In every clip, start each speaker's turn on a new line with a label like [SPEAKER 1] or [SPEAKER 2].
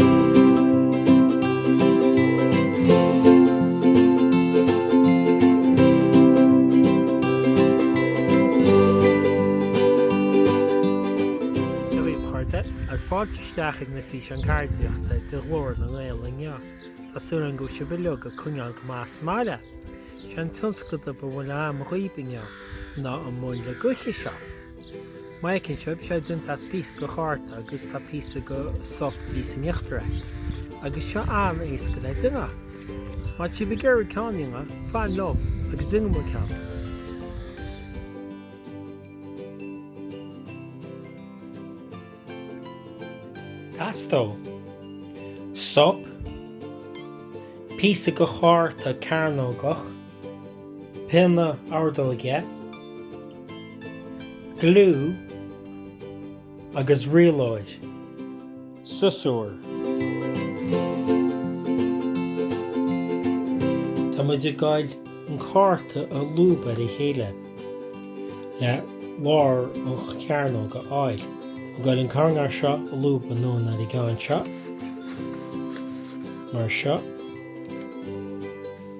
[SPEAKER 1] Dia dhaoibh a chairde, agus fáilte isteach ag na físeáin ceardaíochta de Ghlór na nGael inniu. Tá súil agam go bhfuil sibh uilig ag coinneáil go maith sa mbaile. Is é an tionscadal a bhfuil agam dhaoibh inniu ná an muileann gaoithe seo. Má fheiceann sibh, tá sé déanta as píosa go chárta agus tá píosa go sop thíos in íochtar air. Agus seo an-éasca le déanamh. Má tá sibh ag iarraidh ceann a dhéanamh, fan liom agus déanfaimid ceann. Teastóidh sop, píosa go chárta cearnógach. pionna ordóige, gliú agus rialóir, siosúr. Tá muid ag goil an cárta a lúb ar a chéile le lár an chearnóg a fháil. Ag goil an coirnéal seo a lúb anonn ar an gceann seo, mar seo.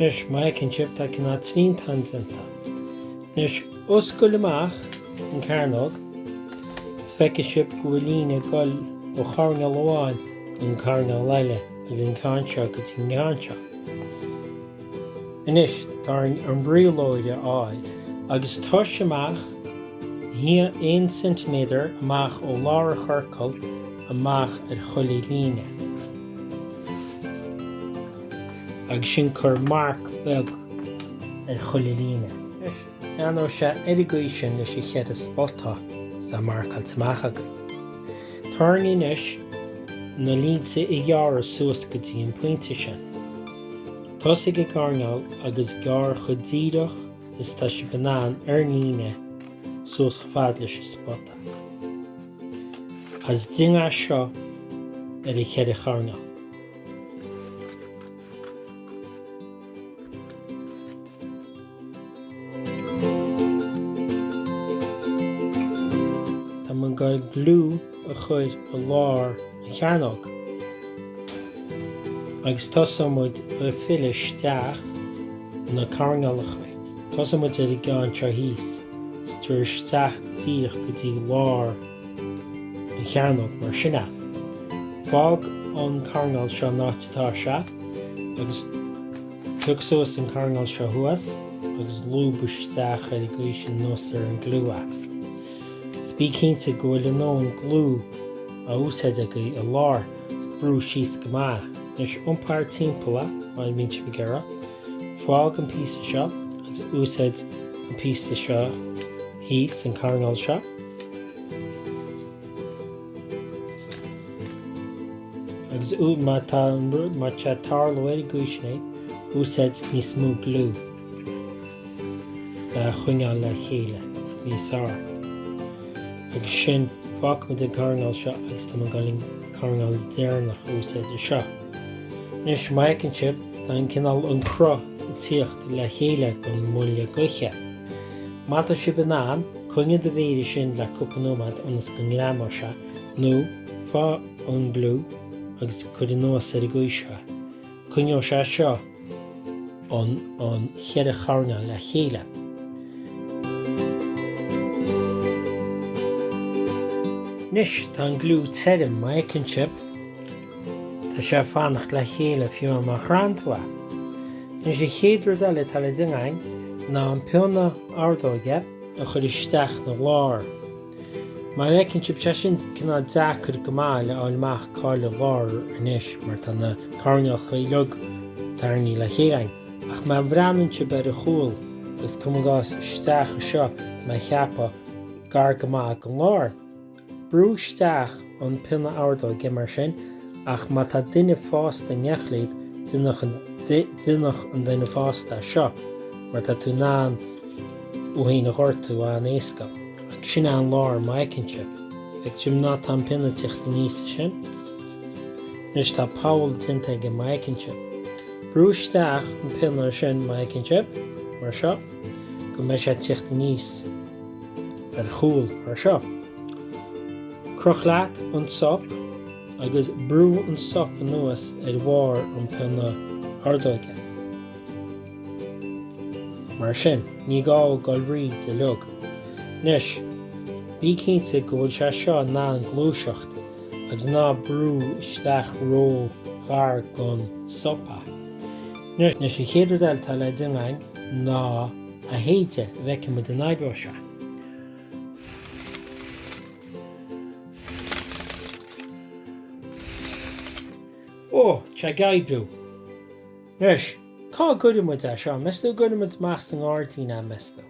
[SPEAKER 1] Anois, má fheiceann sibh, tá cineál triantán déanta. Anois, oscail amach an cearnóg is feicfidh sibh go bhfuil líne ag dul ó choirnéal amháin go dtí an coirnéal eile agus an ceann seo go dtí an ceann seo. Anois, tá orainn an rialóir a fháil agus tomhais amach 1 cm amach ó lár an chiorcail, amach ar chuile líne. Agus ansin cuir marc beag ar chuile líne. Ar nós seo, ar an gcaoi sin leis an cheithre spota atá marcáilte amach againn. Tá orainn anois na línte a ghearradh suas go dtí an pointe sin. Tosaigh ag an gcoirnéal agus gearr chomh díreach is atá sibh in ann ar an líne suas chomh fada leis an spota. As dingeadh seo ar a cheithre charnadh. Tá muid ag gliú a chur i lár. an chearnóg agus tosóidh muid ag filleadh isteach na coirnéalacha. Tosóidh muid ar an gceann seo thíos is tabhair isteach díreach go dtí lár an chearnóg mar sin a. Fág an coirnéal seo an áit atá sé agus tóg suas an coirnéal seo thuas agus lúb isteach ar an gcaoi sin anuas ar an gliú. Is bí cinnte go bhfuil an gliú a úsáid againn i lár is brú síos go maith anois iompaigh timpeall a má bhíonn sibh ag iarraidh fág an píosa seo agus úsáid an píosa seo thíos an coirnéal seo agus ú má tá an rud má tá tarlóir go sné úsáid níos mó gliú a choinneáil le chéile níos fearr. Agus sin, fágfaidh muid an coirnéal seo agus tá muid ag goil an coirnéal deireanach a úsáid anseo. Anois, má fheiceann sibh, tá an cineál an cruth ag tíocht le chéile den mhuileann gaoithe. Má tá sibh in ann, coinnigh do mhéar ansin le cúpla nóiméad ionas go ngreamóidh sé, nó faigh an gliú agus cuir anuas ar an gcaoi seo. Coinneoidh sé seo an cheithre choirnéal le chéile. Anois tá an gliú tirim, má fheiceann sibh, tá sé ag fanacht le chéile fiú má chraitheann tú é. Anois an chéad rud eile atá le déanamh ná an pionna ordóige a chur isteach ina lár. Má fheiceann sibh tá sé sin cineál deacair go maith le fháil amach cáil an lár anois mar tá na coirnéalacha uilig tarraingthe le chéile ach má bhreathnaíonn sibh ar a chúl is cuma gás isteach anseo má cheapadh gar go maith gon lár brú isteach an pionna ordóige mar sin ach má tá duine fásta in éineacht libh déanadh an duine fásta é seo mar tá tú in ann tú féin a ghortú an-éasca agus sin é an lár má fheiceann sibh feic sibh ná tá an pionna ag tíocht aníos ansin anois tá poll déanta againn má fheiceann sibh brú isteach an pionna ansin má fheiceann sibh mar seo go mbeidh sé ag tíocht aníos ar a chúl mar seo. Croch leat an sop agus brú an sop anuas ar bharr an phionna ordóige. Mar sin, ní gá goil tríd uilig. Anois, bí cinnte go bhfuil sé seo in ann gluaiseacht agus ná brú isteach ró-ghar gon sop é. Anois, an chéad rud eile atá le déanamh againn ná é a shéideadh, go bhfeicfidh muid an oibreoidh sé. Ó, tá ag oibriú. Anois, cá gcuirfidh muid é seo? Meas tú an gcuirfidh muid amach sa ngairdín é, meas tú?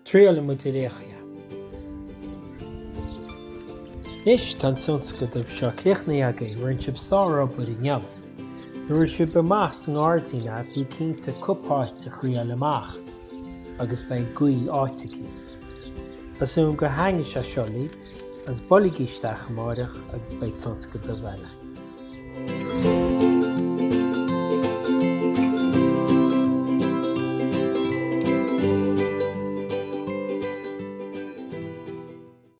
[SPEAKER 1] Triailfidh muid ar fhéachaigh é. Anois, tá an tionscadal seo críochnaithe againn, rinne sibh sárobair inniu. Nuair a sibh amach sa ngairdín é, bí cinnte cúpla áit a thriail amach. agus beidh gaoth áit aici. Presume go haingidh sé siollaí agus bolgaidh isteach amáireach agus beidh tionscadal dubh eile.